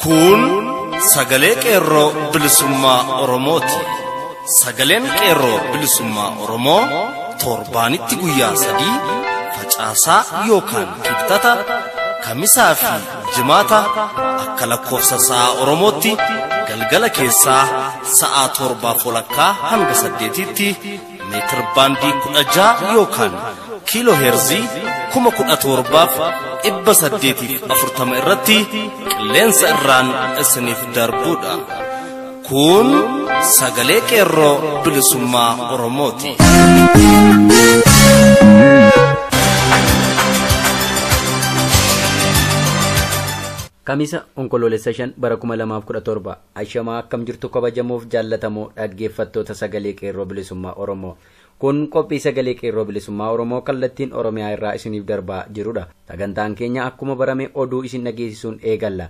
Kun sagalee qeerroo bilisummaa Oromooti. Sagaleen qeerroo bilisummaa Oromoo torbaanitti guyyaa sadii facaasaa yookaan kibxata kamisaa fi Jimaata akka lakkoofsa sa'a Oromootti galgala keessaa sa'a torbaaf walakkaa hanga saddeetiitti meetir baandii kudha ja'a yookaan kiiloo heerzii kuma kudha torbaaf dhibba saddeetiif afurtama irratti qilleensa irraan isiniif darbuudha. Kun sagalee qeerroo bilisummaa Oromooti. Kamisa onkoloolessa 5 bara 2017 ashamaa akkam jirtu kabajamuuf jaallatamoo dhaggeeffattoota sagalee qeerroo bilisummaa Oromoo. Kun qophii sagalee qeerroo bilisummaa Oromoo kallattiin Oromiyaa irraa isiniif darbaa jirudha. Sagantaan keenya akkuma barame oduu isin dhageessisuun eegalla.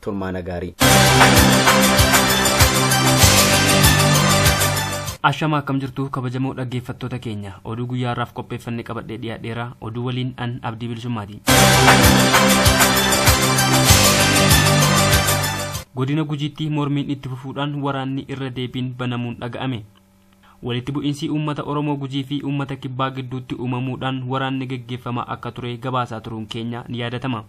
turmaana gaarii. Ashamaa akkam jirtu kabajamoo dhaggeeffattoota keenya oduu guyyaa har'aaf qopheeffanne qabadhee dhiyaadheera oduu waliin an abdii bilisummaati. Godina Gujiitti mormiin itti fufuudhaan waraanni irra deebiin banamuun dhaga'ame. Walitti bu'iinsi uummata Oromoo Gujii fi uummata Kibbaa gidduutti uumamuudhaan waraanni geggeeffamaa akka ture gabaasaa turuun keenya ni yaadatama.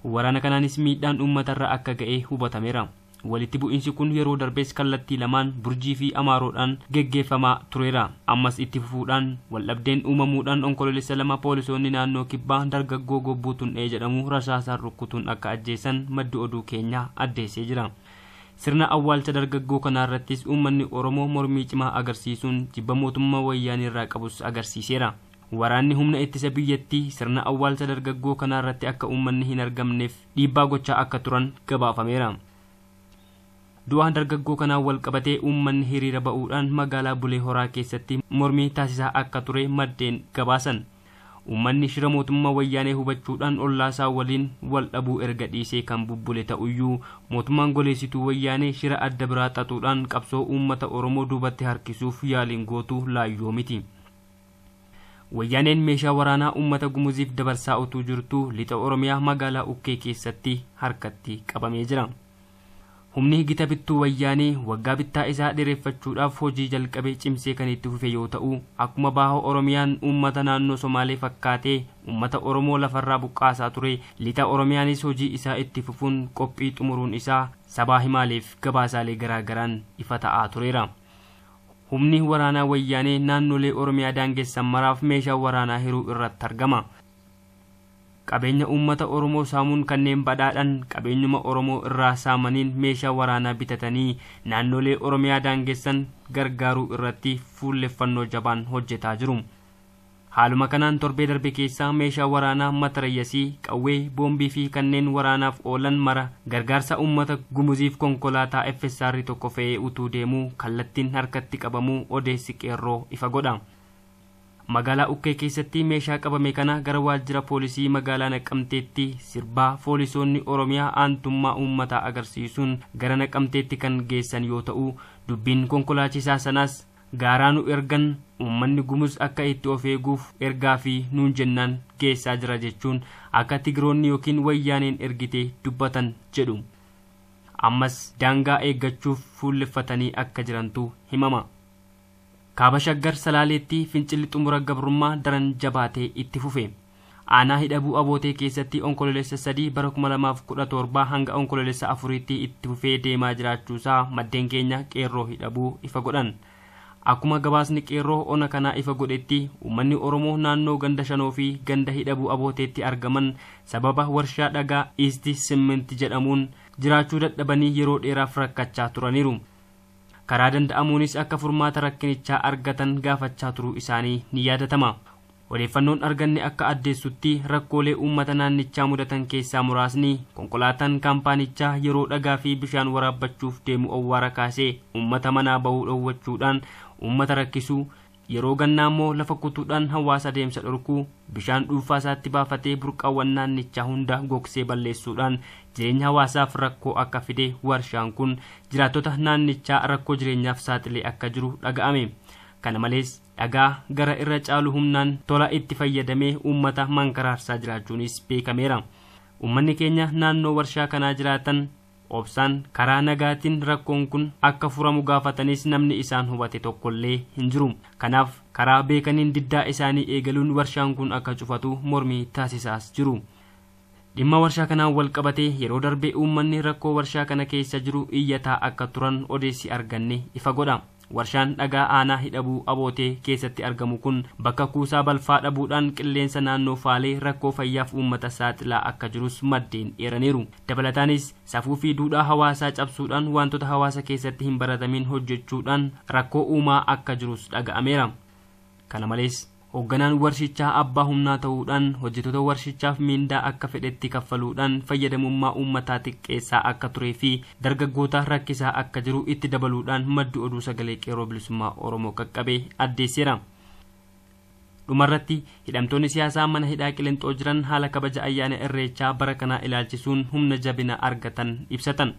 Waraana kanaanis miidhaan uummatarra akka ga'e hubatameera. Walitti bu'iinsi kun yeroo darbes kallattii lamaan Burjii fi Amaaroodhaan geggeeffamaa tureera. Ammas itti fufuudhaan waldhabdeen uumamuudhaan Onkoloolessa 2 poolisoonni naannoo Kibbaa dargaggoo Gobbuu Tun'ee jedhamu rasaasaan rukkutuun akka ajjeesan maddi oduu keenya addeessee jira. Sirna awwaalcha dargaggoo kanaarrattis uummanni Oromoo mormii cimaa agarsiisuun jibba mootummaa Wayyaaneerraa qabus agarsiiseera. Waraanni humna ittisa biyyattii sirna awwaalcha dargaggoo kanaa irratti akka uummanni hin argamneef dhiibbaa gochaa akka turan gabaafameera. Du'a dargaggoo kanaan walqabatee uummanni hiriira ba'uudhaan magaalaa Bulee Horaa keessatti mormii taasisaa akka ture maddeen gabaasan. Uummanni shira mootummaa Wayyaanee hubachuudhaan ollaasaa waliin wal dhabuu erga dhiisee kan bubbule ta'uyyuu, mootummaan goleessituu Wayyaanee shira adda biraa xaxuudhaan qabsoo uummata Oromoo duubatti harkisuuf yaaliin gootu laayyoo miti. Wayyaaneen meeshaa waraanaa uummata Gumuziif dabarsaa utuu jirtuu Lixa Oromiyaa magaalaa Ukkee keessatti harkatti qabamee jira. Humni gita bittuu Wayyaanee waggaa bittaa isaa dheereffachuudhaaf hojii jalqabe cimsee kan itti fufe yoo ta'u, akkuma Baha Oromiyaan uummata naannoo Somaalee fakkaatee uummata Oromoo lafarraa buqqaasaa ture, Lixa Oromiyaanis hojii isaa itti fufuun qophii xumuruun isaa sabaa himaaleef gabaasaalee garaa garaan ifa ta'aa tureera. Humni waraanaa Wayyaanee naannolee Oromiyaa daangessan maraaf meeshaa waraanaa hiruu irratti argama. Qabeenya uummata Oromoo saamuun kanneen badhaadhan qabeenyuma Oromoo irraa saamaniin meeshaa waraanaa bitatanii naannolee Oromiyaa daangessan gargaaruu irratti fuulleffannoo jabaan hojjetaa jiru. Haaluma kanaan torbee darbe keessa meeshaa waraanaa matarayyasii, qawwee, boombii fi kanneen waraanaaf oolan mara gargaarsa uummata Gumuziif konkolaataa FSR 1 fe'ee utuu deemuu kallattiin harkatti qabamuu odeessi Qeerroo ifa godha. Magaalaa Ukkee keessatti meeshaa qabame kana gara waajjira poolisii magaalaa Naqamteetti sirbaa foolisoonni Oromiyaa aantummaa uummataa agarsiisuun gara Naqamteetti kan geessan yoo ta'u, dubbiin konkolaachisaa sanaas, gaaraa nu ergan uummanni Gumuz akka itti of eeguuf ergaa fi nuun jennaan geessaa jira jechuun akka Tigiroonni ykn Wayyaaneen ergite dubbatan jedhu. Ammas daangaa eeggachuuf fuulleffatanii akka jirantu himama. Kaaba Shaggar Salaaleetti fincilli xumura gabrummaa daran jabaatee itti fufe. Aanaa Hidhabuu Abootee keessatti Onkololeessa 3 bara 2017 hanga Onkololeessa 4tti itti fufee deemaa jiraachuusaa maddeen keenya Qeerroo Hidhabuu ifa godhan. Akkuma gabaasni Qeerroo ona kanaa ifa godhetti uummanni Oromoo naannoo ganda Shanoo fi ganda Hidhabuu Abooteetti argaman sababa warshaa dhagaa Isti Simminti jedhamuun jiraachuu dadhabanii yeroo dheeraaf rakkachaa turaniiru. Karaa danda'amuunis akka furmaata rakkinichaa argatan gaafachaa turuu isaanii ni yaadatama. Odeeffannoon arganne akka addeessutti rakkoolee uummata naannichaa mudatan keessaa muraasni konkolaataan kaampaanichaa yeroo dhagaa fi bishaan waraabbachuuf deemu owwaara kaasee uummata manaa bahuu dhowwachuudhaan uummata rakkisuu, yeroo gannaa immoo lafa kutuudhaan hawaasa adeemsa dhorkuu, bishaan dhuunfaa isaatti baafatee burqaawwan naannichaa hunda gogsee balleessuudhaan jireenya hawaasaaf rakkoo akka fide warshaan kun jiraattota naannichaa rakkoo jireenyaaf saaxilee akka jiru dhaga'ame. Kana malees. dhagaa gara irra caalu humnaan tola itti fayyadamee uummata mankaraarsaa jiraachuunis beekameera. Uummanni keenya naannoo warshaa kanaa jiraatan obsaan karaa nagaatiin rakkoon kun akka furamu gaafatanis namni isaan hubate tokkollee hin jiru. Kanaaf karaa beekaniin diddaa isaanii eegaluun warshaan kun akka cufatu mormii taasisaas jiru. Dhimma warshaa kanaan wal qabatee yeroo darbe uummanni rakkoo warshaa kana keessa jiru iyyataa akka turan odeessi arganne ifa godha. Warshaan dhagaa aanaa Hidhabuu Abootee keessatti argamu kun bakka kuusaa balfaa dhabuudhaan qilleensa naannoo faalee rakkoo fayyaaf uummata saaxilaa akka jirus maddeen eeraniiru. Dabalataanis, safuu fi duudhaa hawaasaa cabsuudhaan waantota hawaasa keessatti hin baratamiin hojjechuudhaan rakkoo uumaa akka jirus dhaga'ameera. Kana malees. Hoogganaan warshichaa abbaa humnaa ta'uudhaan hojjetoota warshichaaf miindaa akka fedhetti kaffaluudhaan fayyadamummaa uummataa xiqqeessaa akka turee fi dargaggoota rakkisaa akka jiru itti dabaluudhaan maddi oduu Sagalee Qeerroo Bilisummaa Oromoo qaqqabe addeesseera. Dhumarratti, hidhamtoonni siyaasaa mana hidhaa Qilinxoo jiran haala kabaja ayyaana Irreechaa bara kanaa ilaalchisuun humna jabina argatan ibsatan.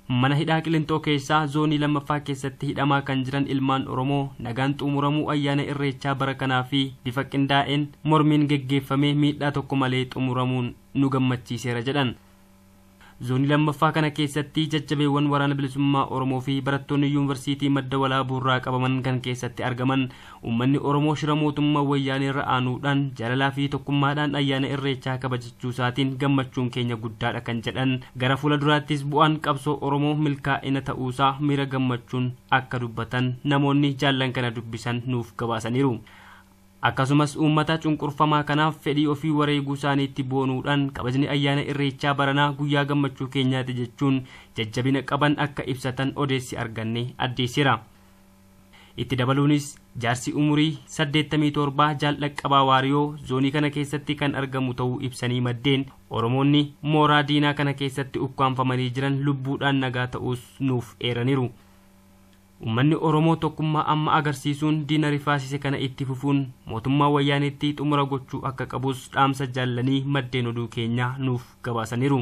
Mana hidhaa Qilinxoo keessaa Zoonii 2ffaa keessatti hidhamaa kan jiran ilmaan Oromoo nagaan xuumuramuu ayyaana Irreechaa bara kanaa fi bifa qindaa'een mormiin geggeeffamee miidhaa tokko malee xumuramuun nu gammachiiseera jedhan. Zoonii 2ffaa kana keessatti jajjabeewwan Waraana Bilisummaa Oromoo fi barattoonni Yuunvarsiitii Madda Walaabuurraa qabaman kan keessatti argaman Uummanni Oromoo shira mootummaa Wayyaaneerra aanuudhaan jaalalaafi tokkummaadhaan ayyaana Irreechaa kabajachuusaatiin gammachuun keenya guddaadha kan jedhan gara fuula duraattis bu'aan qabsoo Oromoo milkaa'ina ta'uusaa miira gammachuun akka dubbatan namoonni jaallan kana dubbisan nuuf gabaasaniiru. Akkasumas uummata cunqurfamaa kanaaf fedhii ofii wareeguusaaniitti boonuudhaan kabajni ayyaana Irreechaa baranaa guyyaa gammachuu keenyaati jechuun jajjabina qaban akka ibsatan odeessi arganne addeesseera. Itti dabaluunis, jaarsi umurii 87 Jaal Dhaqqabaa Waariyoo zoonii kana keessatti kan argamu ta'uu ibsanii maddeen, Oromoonni mooraa diinaa kana keessatti ukkaamfamanii jiran lubbuudhaan nagaa ta'uus nuuf eeraniiru. Ummanni Oromoo tokkummaa amma agarsiisuun diina rifaasise kana itti fufuun mootummaa Wayyaaneetti xumura gochuu akka qabus dhaamsa jaallanii maddeen oduu keenyaa nuuf gabaasaniiru.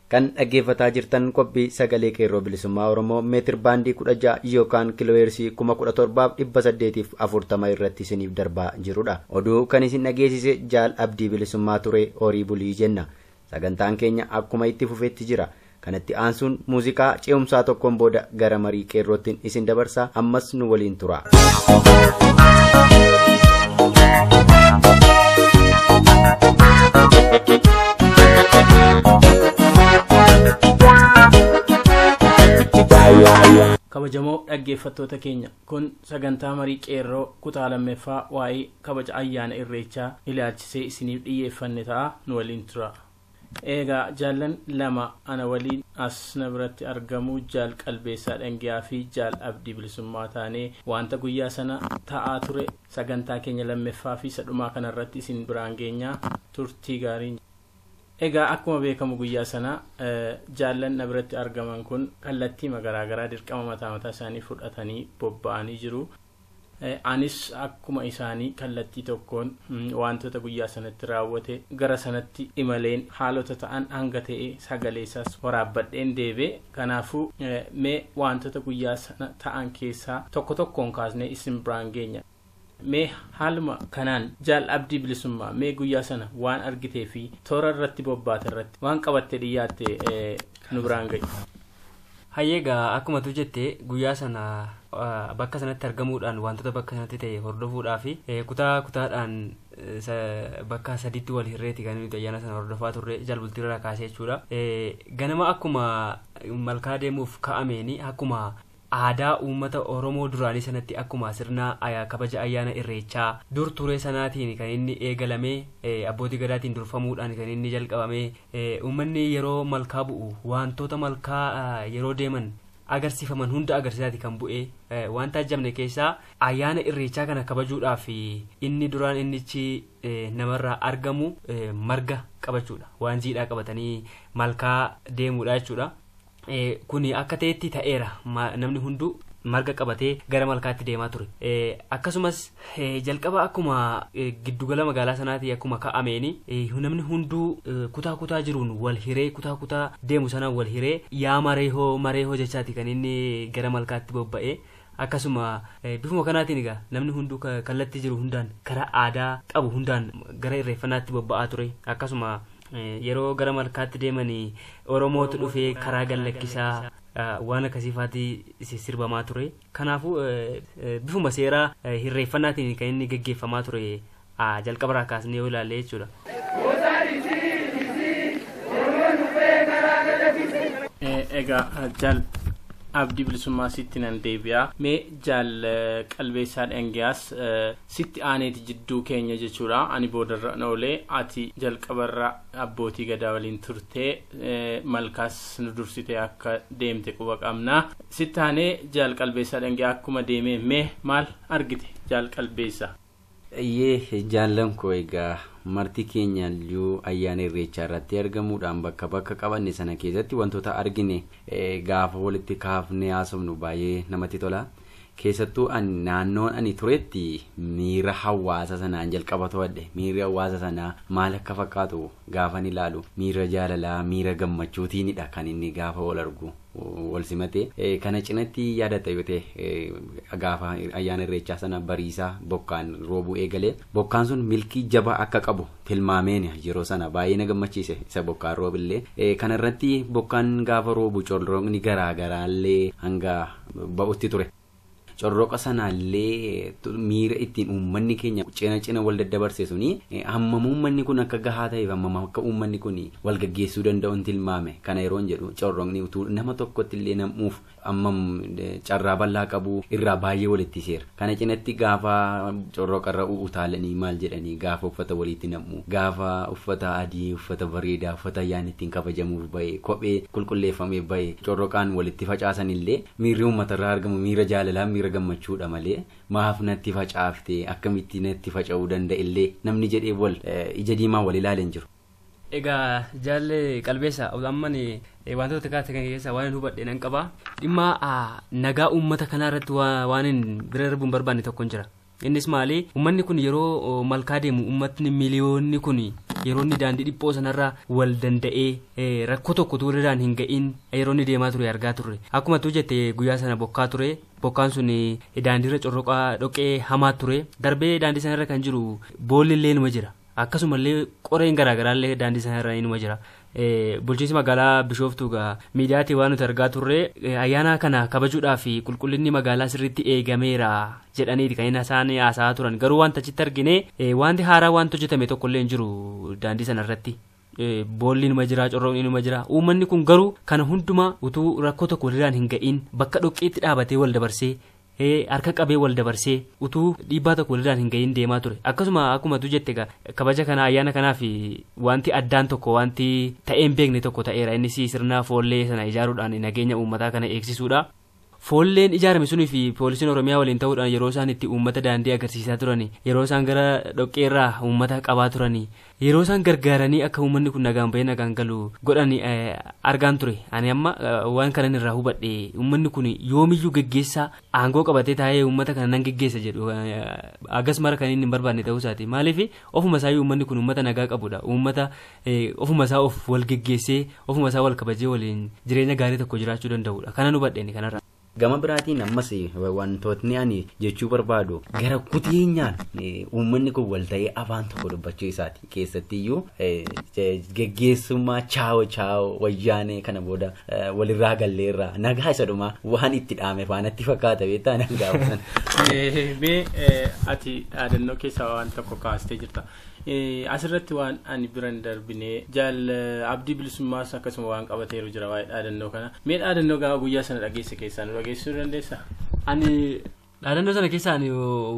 Kan dhaggeeffataa jirtan qophii Sagalee Qeerroo Bilisummaa Oromoo meetir baandii 16 yookaan kiloheersii 17840 irratti isiniif darbaa jirudha. Oduu kan isin dhageessise Jaal Abdii Bilisummaa ture horii bulii jenna. Sagantaan keenya akkuma itti fufetti jira. Kanatti aansuun muuziqaa ce'umsaa tokkoon booda gara marii qeerroottin isin dabarsa ammas nu waliin tura. kabajamoo dhaggeeffattoota keenya kun sagantaa marii qeerroo kutaa lammeeffaa waa'ee kabaja ayyaana irreechaa ilaalchisee isiniif dhiyyeeffanne ta'a nu waliin tura Eegaa jaallan lama ana waliin as na biratti argamu jaal Qalbeessaa Dhangiyaa fi jaal Abdii Bilisummaa taanee waanta guyyaa sana ta'aa ture sagantaa keenya lammeffaa fi isa dhumaa kana irratti isin biraan geenya turtii gaarii. Egaa akkuma beekamu guyyaa sana jaallan na biratti argaman kun kallattiima garaa garaa dirqama mataa mataa isaanii fudhatanii bobba'anii jiru. Anis akkuma isaanii kallattii tokkoon waantota guyyaa sanatti raawwate gara sanatti imaleen haalota ta'an hanga ta'e sagalee isaas waraabbadheen deebi'e. Kanaafuu, mee waantota guyyaa sana ta'an keessaa tokko tokkoon kaasnee isin biraan geenya. Mee haaluma kanaan Jaal Abdii Bilisummaa, mee guyyaa sana waan argitee fi toora irratti bobbaate irratti waan qabattee dhiyyaatte nu biraan ga'i. Hayyee egaa akkuma tu jette guyyaa sana bakka sanatti argamuudhaan wantoota bakka sanatti ta'e hordofuudhaa fi kutaa kutaadhaan bakka sadiitti wal hirreeti kan nuti ayyaana sana hordofaa turre jalbultii irraa kaasee jechuudha. Ganama akkuma malkaa deemuuf ka'ameeni akkuma aadaa uummata Oromoo duraanii sanatti akkuma sirna kabaja ayyaana irreechaa dur turee sanaatiin kan inni eegalamee abbootii gadaatiin durfamuudhaan kan inni jalqabamee Uummanni yeroo malkaa bu'u waantoota malkaa yeroo deeman agarsiifaman hunda agarsiisaati kan bu'e. Waan taajjabne keessaa ayyaana irreechaa kana kabajuudhaaf inni duraan innichi namarraa argamu marga qabachuudha. Waan jiidhaa qabatanii malkaa deemuudha jechuudha. Kuni akka ta'etti ta'eera. Namni hunduu marga qabatee gara malkaatti deemaa ture. Akkasumas jalqaba akkuma giddugala magaalaa sanaatii akkuma ka'ameeni namni hunduu kutaa kutaa jiruun wal hiree kutaa kutaa deemu sanaan wal hiree yaa mareehoo mareehoo jechaati kan inni gara malkaatti bobba'e. Akkasuma bifuma kanaatiin egaa namni hunduu kallattii jiru hundaan karaa aadaa qabu hundaan gara irreeffannaatti bobba'aa ture. Akkasuma yeroo gara malkaatti deemanii Oromootu dhufee karaa gallakkisaa waan akkasiifaati sirbamaa ture. Kanaafuu bifuma seeraa irreeffannaatiin kan inni gaggeeffamaa ture a jalqaba irraa kaasnee yoo ilaalle jechuudha. Egaa jaal abdii bilisummaa sitti nan deebi'a. Mee jaal qalbeessaa dhangiyaas sitti aaneeti jidduu keenya jechuudha. Ani boodarra na oolee ati jalqabarra abbootii gadaa waliin turtee malkaas nu dursitee akka deemte quba qabna. Sitti aanee jaal qalbeessaa dhangiyaa akkuma deemee mee maal argite jaal qalbeessaa? Eyyee jaallan koo egaa marti keenyayyuu ayyaana irreechaa irratti argamuudhaan bakka bakka qabanne sana keessatti wantoota argine gaafa walitti kaafne haasofnu baay'ee namatti tola. Keessattuu ani naannoon ani turetti miira hawaasa sanaan jalqaba to'adhe. Miirri hawaasa sanaa maal akka fakkaatu Gaafan ilaalu miira jaalalaa, miira gammachuutiinidha kan inni gaafa wal argu wal simate. Kana cinatti yaadatta yoo ta'e gaafa ayyaana irreechaa sana bariisaa bokkaan roobuu eegale. Bokkaan sun milkii jabaa akka qabu tilmaameeni yeroo sana baay'ee na gammachiise isa bokkaan roobillee. Kana irratti bokkaan gaafa roobu corroqni garaa garaallee hanga ba'utti ture. Corroqa sanaallee miira ittiin uummanni keenya cina cina wal daddabarse suni hammam uummanni kun akka gahaa ta'eef hammam akka uummanni kun wal gaggeessuu danda'uun tilmaame kana yeroon jedhu corroqni utuu nama tokkotti illee nam'uuf hammam carraa bal'aa qabu irraa baay'ee walitti seera. Kana cinatti gaafa corroqa irra utaalanii maal jedhanii gaafa uffata waliitti nam'u gaafa uffata adii uffata bareedaa uffata ayyaanni ittiin kabajamuuf ba'e kophee qulqulleeffamee ba'e corroqaan walitti facaasan illee Miirri uummata irraa argamu miira jaalalaa, miira gammachuu dha malee maaf natti facaafte, akkamitti natti faca'uu danda illee namni jedhee wal ija diimaan wal ilaale hin jiru. Egaa jaalle qalbeessa amman wantoota kaase kan keessaa waan hubadhe nan qaba. Dhimma nagaa uummata kanaa irratti waanin bira darbuun barbaanne tokkon jira. Innis maali? Ummanni kun yeroo malkaa deemu ummatni miliyoonni kun yeroo inni daandii dhiphoo sanarra wal danda'ee rakkoo tokko utuu irraan hin ga'iin yeroo inni deemaa ture argaa turre. Akkuma tuu jette guyyaa sana bokkaa ture. Bokkaan sun daandiirra corroqaa dhoqqee hamaa ture. Darbee daandii sanarra kan jiru boolli illee numa jira. Akkasumallee qoreen garaagaraallee daandii sana irra inuma jira. Bulchiinsi magaalaa Bishooftuu egaa miidiyaatii waan nuti argaa turre ayyaana kana kabajuudhaaf qulqullinni magaalaa sirriitti eegameera jedhaniiti kan inni isaan haasa'aa turan. Garuu wanta achitti argine wanti haaraa wanti hojjetame tokkollee hin jiru daandii sana irratti. boolli numa jira corroqni numa jira uummanni kun garuu kana hundumaa utuu rakkoo tokko walirraan hin ga'iin bakka dhoqqeetti dhaabatee wal dabarsee harka qabee wal dabarsee utuu dhiibbaa tokko walirraan hin ga'iin deemaa ture akkasuma akkuma tu jette kabaja kana ayyaana kanaaf wanti addaan tokko wanti ta'een beekne tokko ta'eera innis sirna foollee sana ijaaruudhaan nageenya uummataa kana eegsisuudha. Foolleen ijaarame sun fi poolisiin Oromiyaa waliin ta'uudhaan yeroo isaan itti uummata daandii agarsiisaa turani, yeroo isaan gara dhoqqeerraa uummata qabaa turani, yeroo isaan gargaaranii akka uummanni kun nagaan bahee nagaan galu godhani argaan ture. Ani amma waan kanan irraa hubadhe uummanni kun yoomiyyuu geggeessaa aangoo qabatee taa'ee uummata kana nan geggeessa jedhu hagas mara kan inni hin barbaadne ta'uu isaati. Maaliif ofuma isaayyuu uummanni kun uummata nagaa qabudha. Uummata ofuma isaa of wal geggeessee ofuma isaa wal kabajee waliin jireenya gaarii tokko jiraachuu danda'udha. Kanan hubadhe ani kanarraa. Gama biraatiin ammas wantootni ani jechuu barbaadu gara kuteenyaan uummanni kun wal ta'ee afaan tokko dubbachuu isaati. Keessattiyyuu geggeessummaa chaawo chaawo wayyaanee kana booda walirraa galleerraa nagaa isa dhumaa waan itti dhaame faanatti fakkaata beektaa nagaa sana. Mee ati dhaadannoo keessaa waan tokko kaastee jirta. Asirratti waan ani bira hin darbine jaal abdii bilisummaas akkasuma waan qabateeru jira waa'ee dhaadannoo kana. Mee dhaadannoo gaafa guyyaa sana dhageesse keessaa nu dhageessisuu dandeessaa? Ani dhaadannoo sana keessa ani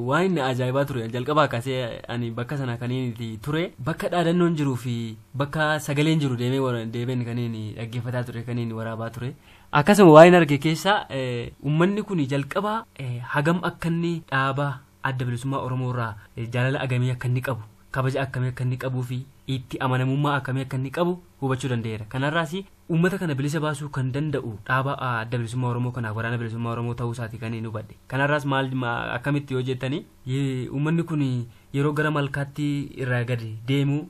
waan inni ajaa'ibaa ture jalqabaa kaasee ani bakka sana kan inni ture bakka dhaadannoon jiruu fi bakka sagaleen jiru deemee wara- deebiin kan inni dhaggeeffataa ture kan inni waraabaa ture. Akkasuma waan inni arge keessaa eh, uummanni kun jalqabaa eh, hagam akka inni dhaabaa Adda Bilisummaa Oromoo irraa jaalala agamii akka inni qabu, kabaja akkamii akka inni qabuu fi itti amanamummaa akkamii akka inni qabu hubachuu danda'eera. Kanarraas uummata kana bilisa baasuu kan danda'u dhaaba Adda Bilisummaa Oromoo kanaaf Waraana Bilisummaa Oromoo ta'uu isaati kan hin hubadhe. Kanarraas maal akkamitti yoo jettani uummanni kun yeroo gara malkaatti irraa gad deemu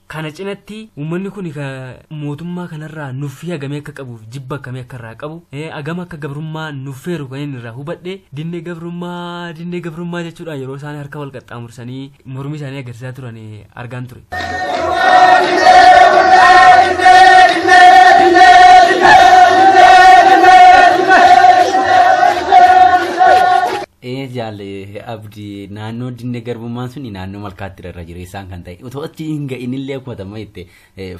Kana cinatti uummanni kuni ka mootummaa kanarraa nuffii hagamii akka qabuuf jibba akkamii akka irraa qabu eh, agam akka gabrummaa nuffeeru kan inni irraa hubadhe dinne gabrummaa dinne gabrummaa jechuudhaan yeroo isaan harka wal qaxxaamursanii mormii isaanii agarsiisaa turan eh, argaan ture. Ee jaalle abdi naannoo dinne garbummaan suni naannoo malkaatti irra jireessaan kan ta'e otoo achi hin ga'in illee kufatama jette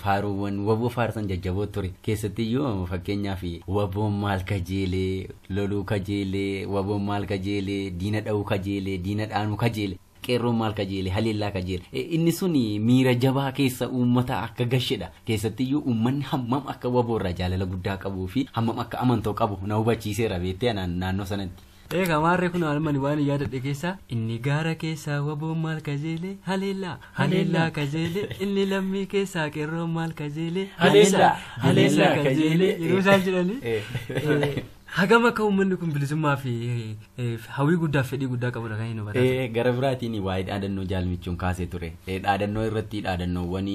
faaruuwwan waboo faarsan jajjaboo ture keessatti iyyuu fakkeenyaaf waboon maal kajeelee loluu kajeelee waboon maal kajeelee diina dha'uu kajeelee diina dhaanuu kajeelee Qeerroon maal kajeele? Haleellaa kajeele. Inni sun miira jabaa keessa uummataa akka gashedha. Keessattiyyuu uummanni hammam akka waboo irraa jaalala guddaa qabuu fi hammam akka amantoo qabu na hubachiiseera beektee anaan naannoo sanatti. Eegaa maarree kunoo almani waan yaadadhe keessaa inni gaara keessaa waboon maal kajeele? Haleellaa! Haleellaa kajeele! Inni lammii keessaa qeerroon maal kajeele? Haleellaa! Haleellaa kajeele! Yeroo isaan jedhanii. Hagam akka uummanni kun bilisummaa fi hawwii guddaa fi fedhii guddaa qabudha kan inni hubatan. Eh, gara biraatiin waa'ee dhaadannoo jaalmichuun kaasee ture. Eh, dhaadannoo irratti dhaadannoowwan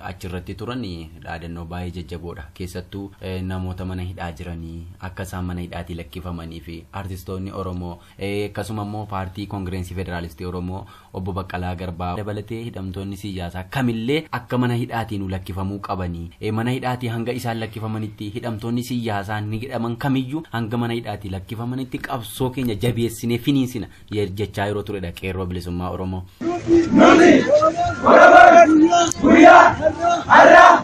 achirratti turan eh, dhaadannoo baay'ee jajjaboodha. Keessattuu eh, namoota mana hidhaa jiranii akka isaan mana hidhaatii lakkifamanii fi artistoonni Oromoo Akkasuma immoo paartii Koongireensii Federaalistii Oromoo obbo Baqqalaa Garbaa dabalatee hidhamtoonni siyyaasaa kamillee akka mana hidhaatii nu lakkifamuu qabanii mana hidhaatii hanga isaan lakkifamanitti hidhamtoonni siyyaasaa ni hidhaman kamiyyuu hanga mana hidhaatii lakkifamanitti qabsoo keenya jabeessinee finiinsina jechaa yeroo turedha qeerroo bilisummaa Oromoo. Nuti Oromoon guyyaa har'aa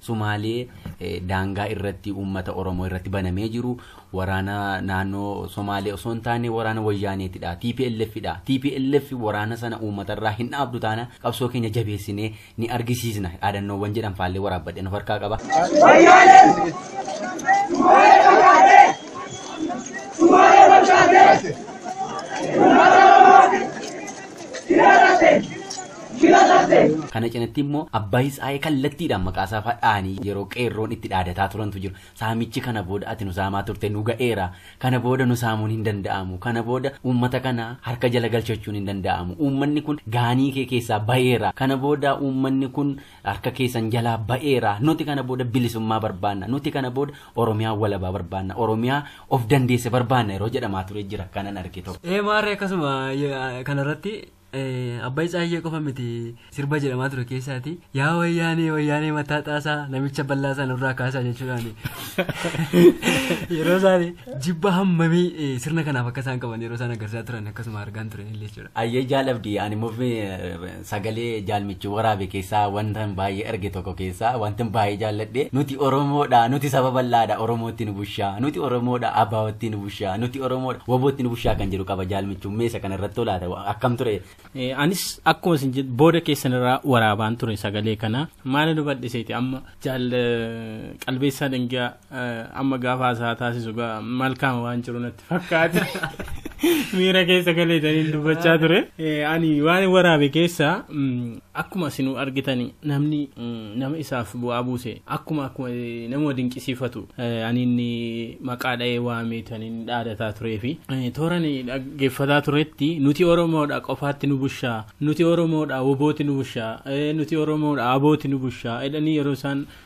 Somaalee daangaa irratti uummata Oromoo irratti banamee jiru waraana naannoo Somaalee osoo hin taane waraana Wayyaaneetidha. TPLF dha. TPLF waraana sana uummatarraa hin dhaabdu taana qabsoo keenya jabeessinee ni argisiisna. Dhaadannoowwan jedhan faallee waraabbadheen of harkaa qaba. Somaalee! Kana cinatti immoo Abbaay Tsaayee kallattiidhaan maqaasaa fa'aa dhahanii yeroo qeerroon itti dhaadataa turantu jiru. Saamichi kana booda ati nu saamaa turte nu ga'eera. Kana booda nu saamuun hin danda'amu. Kana booda uummata kana harka jala galchachuun hin danda'amu. Uummanni kun gaanii kee keessaa ba'eera. Kana booda uummanni kun harka keessan jalaa ba'eera. Nuti kana booda bilisummaa barbaanna. Nuti kana booda Oromiyaa walabaa barbaanna. Oromiyaa of dandeesse barbaanna yeroo jedhamaa ture jira kanan arge tokko. Ee maarree akkasuma kanarratti Abbayi Tsaayyee qofa miti sirba jedhamaa ture keessaati. Yaa wayyaanee wayyaanee mataa xaasaa namicha bal'aa isaa nurraa kaasaa jechuudhaan yeroo isaan jibba hammamii sirna kanaaf akka isaan qaban yeroo isaan agarsiisaa turan akkasuma argaan turan illee jechuudha. Ayyee jaalabdi ani mufi sagalee jaalmichi waraabe keessaa wanta baay'ee arge tokko keessaa wanta baay'ee jaalladhe nuti Oromoodha nuti saba bal'aadha Oromootti nu bushaa nuti Oromoodha Abaawootti nu bushaa. bushaa nuti oromoodha wabootti nu bushaa kan jedhu qaba jaal michuu meesa kana irratti olaata akkam ture. Anis akkuma isin jedhu booda keessan irraa waraabaan ture sagalee kana maala nu bal'iseeti amma jaal qalbeessaa dangaa amma gaafa haasaa taasisu malkaama waan jiru natti fakkaata. Miira keessa galeetaniin dubbachaa ture. Ani waan waraabe keessaa Akkuma isinuu argitani namni nama isaaf bu'aa buuse akkuma akkuma namuma dinqisiifatu ani inni maqaa dha'ee waameetu ani inni dhaadataa turee fi toora ni dhaggeeffataa turetti nuti Oromoodha qofaatti nu bushaa nuti Oromoodha wobooti nu bushaa nuti Oromoodha abooti nu bushaa jedhanii yeroo isaan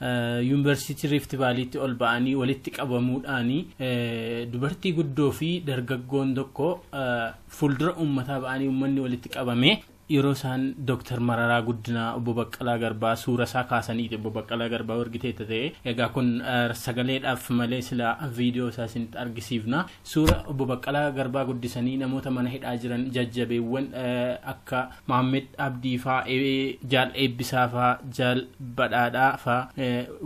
Yuunvarsiitii Riifti Vaaliitti ol ba'anii walitti qabamuudhaan dubartii guddoo fi dargaggoon tokko fuuldura uummataa ba'anii uummanni walitti qabame yeroo isaan Dooktar Mararaa Guddinaa obbo Baqqalaa Garbaa suura isaa kaasaniiti obbo Baqqalaa Garbaa wargitee ta'e egaa kun sagaleedhaaf malee sila viidiyoo isaa isinitti argisiifna suura obbo Baqqalaa Garbaa guddisanii namoota mana hidhaa jiran jajjabeewwan akka Maammed Abdii faa, Jaal Eebbisaa faa, Jaal Badhaadhaa faa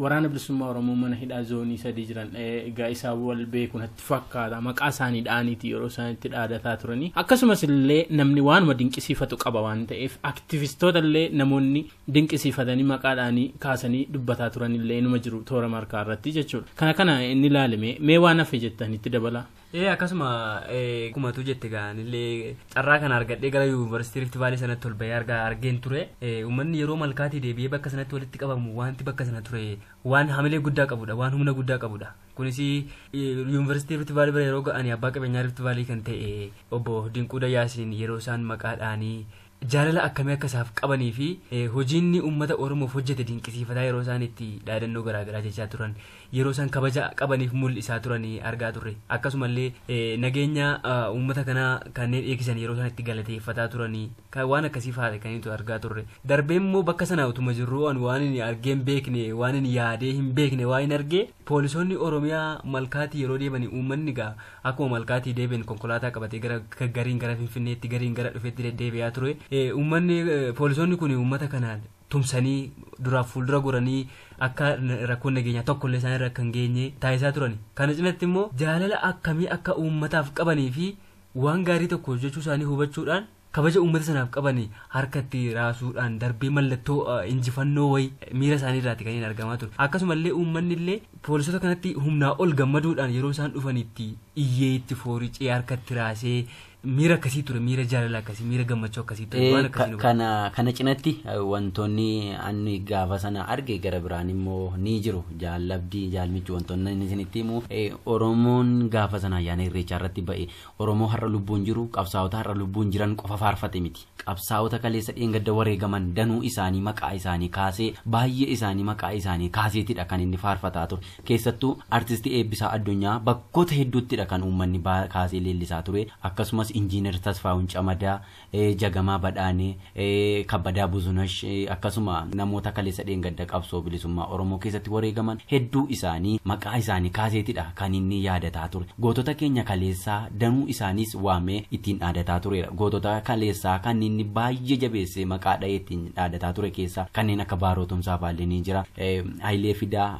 waraana bilisummaa Oromoo mana hidhaa zoonii sadii jiran egaa isaa wal beeku natti fakkaata maqaa isaanii dha'aniiti yeroo isaan itti dhaadataa turanii akkasumas illee namni waanuma dinqisiifatu qaba waan ta'eef aktivistoota illee namoonni dinqisiifatanii maqaa dhaanii kaasanii dubbataa turan illee inuma jiru toora markaa irratti jechuudha kana kana inni ilaalime mee waan hafe jettan itti dabalaa. Ee akkasuma akkuma tu jette gaanillee carraa kana argadhee gara yuunivarsiitii Rift Vaalii sanatti ol bahee argaa argeen ture. Uummanni yeroo malkaatii deebi'ee bakka sanatti walitti qabamu wanti bakka sana ture waan hamilee guddaa qabudha waan humna guddaa qabudha. Kunis yuunivarsiitii Rift Vaalii bira yeroo ga'anii abbaa qabeenyaa Rift Vaalii kan ta'e obbo Dinquu Dayyaasiin yeroo isaan maqaa dhaanii jaalala akkamii akka isaaf qabanii fi hojiinni uummata Oromoof hojjete dinqisiifataa yeroo isaan itti dhaadannoo garaa garaa jechaa turan, yeroo isaan kabaja qabaniif mul'isaa turan argaa turre. Akkasuma illee nageenya uummata kanaa kanneen eegsisan yeroo isaan itti galateeffataa turan waan akkasii faadha kan nuti argaa turre. Darbee immoo bakka sana utuma jirruu an waan hin argee hin beekne, waan hin yaadee hin beekne waan hin argee, Poolisoonni Oromiyaa malkaatii yeroo deemani uummanni gaa akkuma malkaatii deebi'en konkolaataa qabatee gara gariin gara Finfinneetti gariin gara dhufetti deddeebi'aa ture. Uummanni poolisoonni kun uummata kanaan tumsanii duraaf fuuldura goranii akka rakkoon nageenyaa tokkollee isaan irra akka hin geenye taasisaa turani. Kana cinatti immoo jaalala akkamii akka uummataaf qabanii fi waan gaarii tokko hojjechuu isaanii hubachuudhaan kabaja uummata sanaaf qaban harkatti raasuudhaan darbee mallattoo injifannoo wayi miira isaanii irraati kan hin argamaa ture. Akkasuma illee uummanni illee poolisoota kanatti humnaa ol gammaduudhaan yeroo isaan dhufan itti iyyee itti fooricee harkatti raasee miira akkasii ture miira jaalala akkasii miira gammachuu akkasii ture waan akkasii nu kana kana cinatti wantoonni anni gaafa sana arge gara biraan immoo ni jiru jaallabdii jaalmichi wantoonni inni isinitti himu oromoon gaafa sana ayyaana irreechaa irratti ba'e Oromoo har'a lubbuun jiru, qabsaa'ota har'a lubbuun jiran qofa faarfate miti. Qabsaa'ota kaleessa dheengadda wareegaman danuu isaanii maqaa isaanii kaasee, baay'ee isaanii maqaa isaanii kaaseetidha kan inni faarfataa ture. Keessattuu Artisti Eebbisaa Addunyaa bakkoota hedduuttidha kan uummanni kaasee leellisaa ture. Akkasumas Injiinar Tasfaahun Camadaa, Jagamaa Badhaanee, Kabbadaa Buzunash akkasuma namoota kaleessa dheengadda qabsoo bilisummaa Oromoo keessatti wareegaman hedduu isaanii maqaa isaanii kaaseetidha kan inni yaadataa ture. Gootota keenya kaleessaa danuu isaaniis waamee ittiin dhaadataa tureera. Gootota kaleessaa kan inni baay'ee jabeessee maqaa dhahee ittiin dhaadataa ture keessaa kanneen akka Baaroo Tumsaa faallee ni jira. Hayilee Fidaa.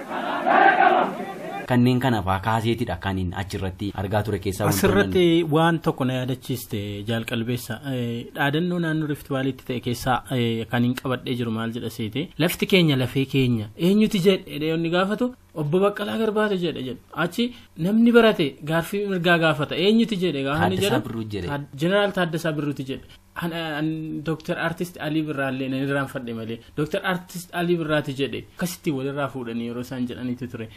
Kanneen kana faa kaaseetidha kanin achirratti argaa ture keessaa wantoonni Asirratti waan tokko na yaadachiiste jaal qalbeessa dhaadannoo naannoo Rift Vaaliitti ta'e keessaa kan hin qabadhee jiru maal jedha seete lafti keenya lafee keenya eenyuti jedhe jedhee inni gaafatu obbo Baqqalaa Garbaatu jedhe jedhu achi namni barate gaaffii mirgaa gaafata eenyuti jedhe gaafa inni Taaddasaa jedhu Birruu jedhe. Taad- Jeneraal Taaddasaa Birruuti jedhe An, an Dr. Artist Alii Birraallee nan irraanfadhe malee Dr. Artist Alii Birraati jedhe akkasitti walirraa fuudhanii yeroo isaan jedhanitti ture.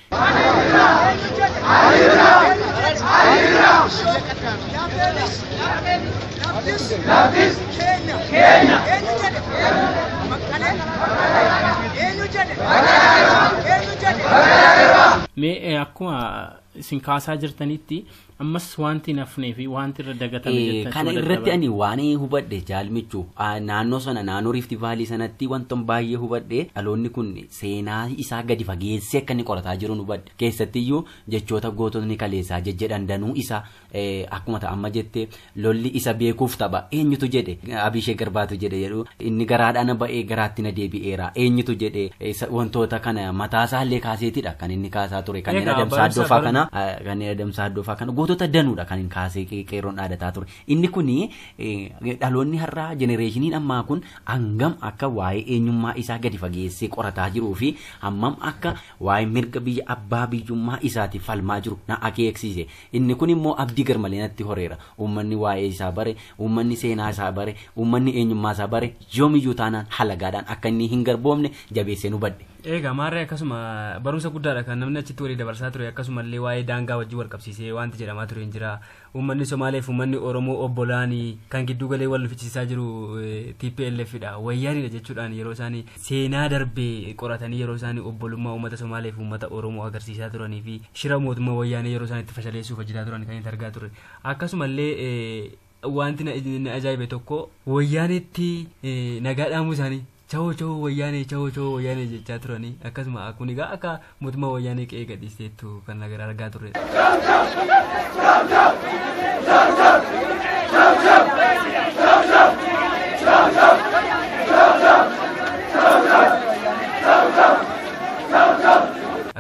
Mee eh, akkuma isin kaasaa jirtanitti Ammas wanti hin hafnee fi wanti irra dagatame Eh, jettachuu kana irratti dadhaban. ani waan hubadhe jaalmichu Ah, naannoo sana naannoo riifti vaalii sanatti wantan baay'ee hubadhe dhaloonni kun seenaa isaa gadi fageessee akka inni qorataa jiru hubadhe keessattiyyuu jechoota goototni kaleessaa jejjedhan danuu isaa eh, akkuma ta'a amma jette Lolli isa beekuuf tapha. Eenyutu jedhe? Abiishee Garbaatu jedhe jedhu. Inni garaadhaa na ba'ee garaatti na deebi'eera. Eenyutu jedhe? Isa- Wantoota kana mataasaa illee kaaseetidha kan inni kaasaa ture. Kanneen Egaa adamsaa barumsa addoofaa baru- kana eh, kanneen adamsaa addoofaa kana gootota danuudha kan hin kaasee qe- qeerroon dhaadataa ture. Inni kun dhaloonni har'aa jenereeshiniin ammaa kun hangam akka waa'ee eenyummaa isaa gadi fageessee qorataa jiruu fi hammam akka waa'ee mirga biyya abbaa biyyummaa isaatiif falmaa jiru na akeeksiise. Inni kun immoo abdii garmalee natti horeera. Uummanni waa'ee isaa bare, uummanni seenaa isaa bare, uummanni eenyummaa isaa bare yoomiyyuu taanaan halagaadhaan akka inni hin garboomne jabeesseen hubadhe. Eegaa maarree akkasuma barumsa guddaadha kan namni achitti walii dabarsaa ture akkasumallee waa'ee daangaa wajjin wal qabsiisee wanti jedhamaa ture hin jira. Uummanni Somaalee fi uummanni Oromoo obbolaani kan gidduu galee wal nufichiisaa jiru eh, TPLF dha wayyaanidha jechuudhaan yeroo isaanii seenaa darbe qoratanii yeroo isaan obbolummaa uummata Somaalee fi uummata Oromoo agarsiisaa turanii fi shira mootummaa wayyaanee yeroo isaan itti fashaleessuuf hojjetaa turan kan itti argaa turre. Akkasumallee wanti na ajaa'ibe tokko wayyaaneetti nagaa dhaamuu isaanii chawoo chawoo wayyaanee chawoo chawoo wayyaanee jechaa turanii akkasuma kun egaa akka Mootummaa wayyaanee qe'ee gadhiisteettu kan nagar argaa turredha.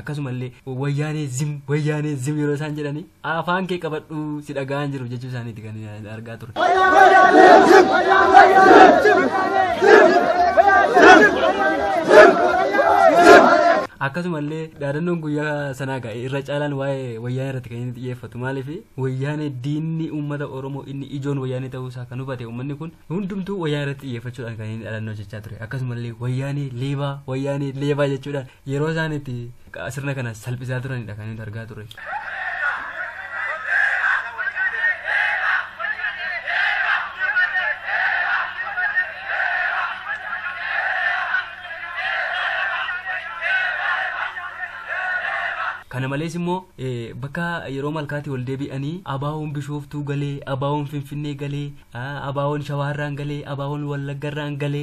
Akkasumallee wayyaanee zim wayyaanee zim yeroo isaan jedhanii Afaan kee qabadhu si dhaga'aa hin jiru jechuu isaaniiti kan argaa ture. Akkasumallee dhaadannoon guyyaa sanaa gahe irra caalaan waa'ee wayyaanee irratti kan inni xiyyeeffatu maaliif wayyaanee diinni uummata Oromoo inni ijoon wayyaanee ta'uu isaa kan hubate uummanni kun hundumtuu wayyaanee irratti xiyyeeffachuudhaan kan inni dhaadannoo jechaa ture akkasumallee wayyaanee leebaa wayyaanee leebaa jechuudhaan yeroo isaan itti sirna kana salphisaa turanidha kan nuti argaa turre. kana malees immoo bakka yeroo malkaatti wal deebi'anii abaawoon bishooftuu galee abaawoon finfinnee galee abaawoon shawaarraan galee abaawoon wallaggarraan galee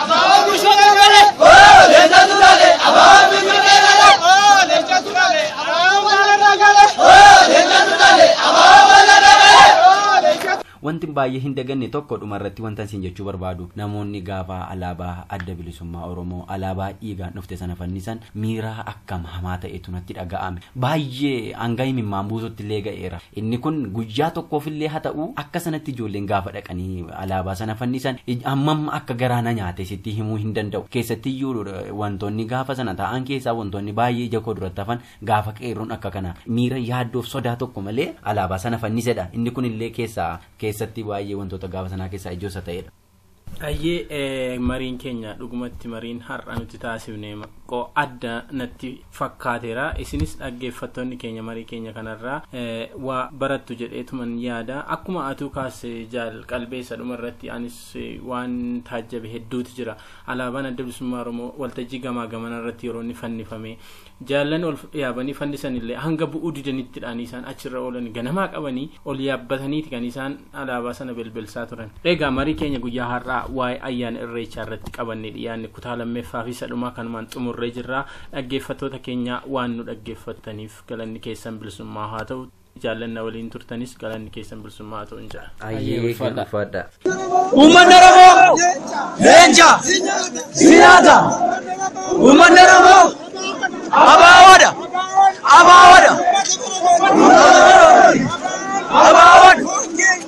Wanti baay'ee hin daganne tokko dhumarratti wanta isin jechuu barbaadu namoonni gaafa alaabaa adda bilisummaa Oromoo alaabaa dhiigaan dhufte sana fannisan Miira akkam hamaa ta'etu natti dhaga'ame! Baay'ee hanga imimmaan buusutti illee ga'eera. Inni kun guyyaa tokkoof illee haa ta'u, akka sanatti ijoolleen gaafa dhaqanii alaabaa sana fannisan hammam akka garaa na nyaate sitti himuu hin danda'u. Keessatti iyyuu wantoonni gaafa sana ta'an keessaa wantoonni baay'ee ija koo duratti hafan gaafa qeerroon akka kanaa miira yaaddoo fi sodaa tokko malee alaabaa sana fannisedha. Inni kun illee keessaa keessatti baay'ee wantoota gaafa sanaa keessaa ijoo isa ta'edha. Hayyee mariin keenya dhugumatti mariin har'a nuti taasifne qo adda natti fakkaateera isinis dhaggeeffattoonni keenya marii keenya kanarraa waa barattu jedheetuman yaada akkuma atuu kaasse jaal qalbeessa dhuma irratti anis waan taajjabe hedduutu jira alaabaan adda bilisummaa oromoo waltajjii gamaa gamana irratti yeroo inni fannifame Jaallan ol yaabanii fannisan illee hanga bu'uu didanitti dhaan isaan achi irra oolani. Ganamaa qabanii ol yaabbatanii ti kan isaan alaabaa sana belbelsaa turan. Egaa marii keenya guyyaa har'aa waa'ee ayyaana Irreechaa irratti qabannee dhiyaanne kutaa lammeffaa fi isa dhumaa kanumaan xumurree jirra. Dhaggeeffattoota keenya waan nu dhaggeeffattaniif galanni keessan bilisummaa haa ta'u. jaallan na waliin turtanis galanni keessan bilisummaa haa ta'uun jedha. Ayyee ulfaadha. ulfaadha. Uummanni Oromoo leenca sinaata. Uummanni Oromoo abaawoodha. Abaawoodha. Abaawoodha.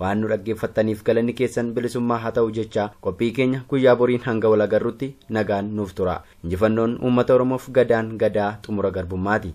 Waan nu dhaggeeffattaniif galanni keessan bilisummaa haa ta'u jechaa qophii keenya guyyaa boriin hanga wal agarrutti nagaan nuuf turaa. Injifannoon uummata Oromoof gadaan gadaa xumura garbummaati.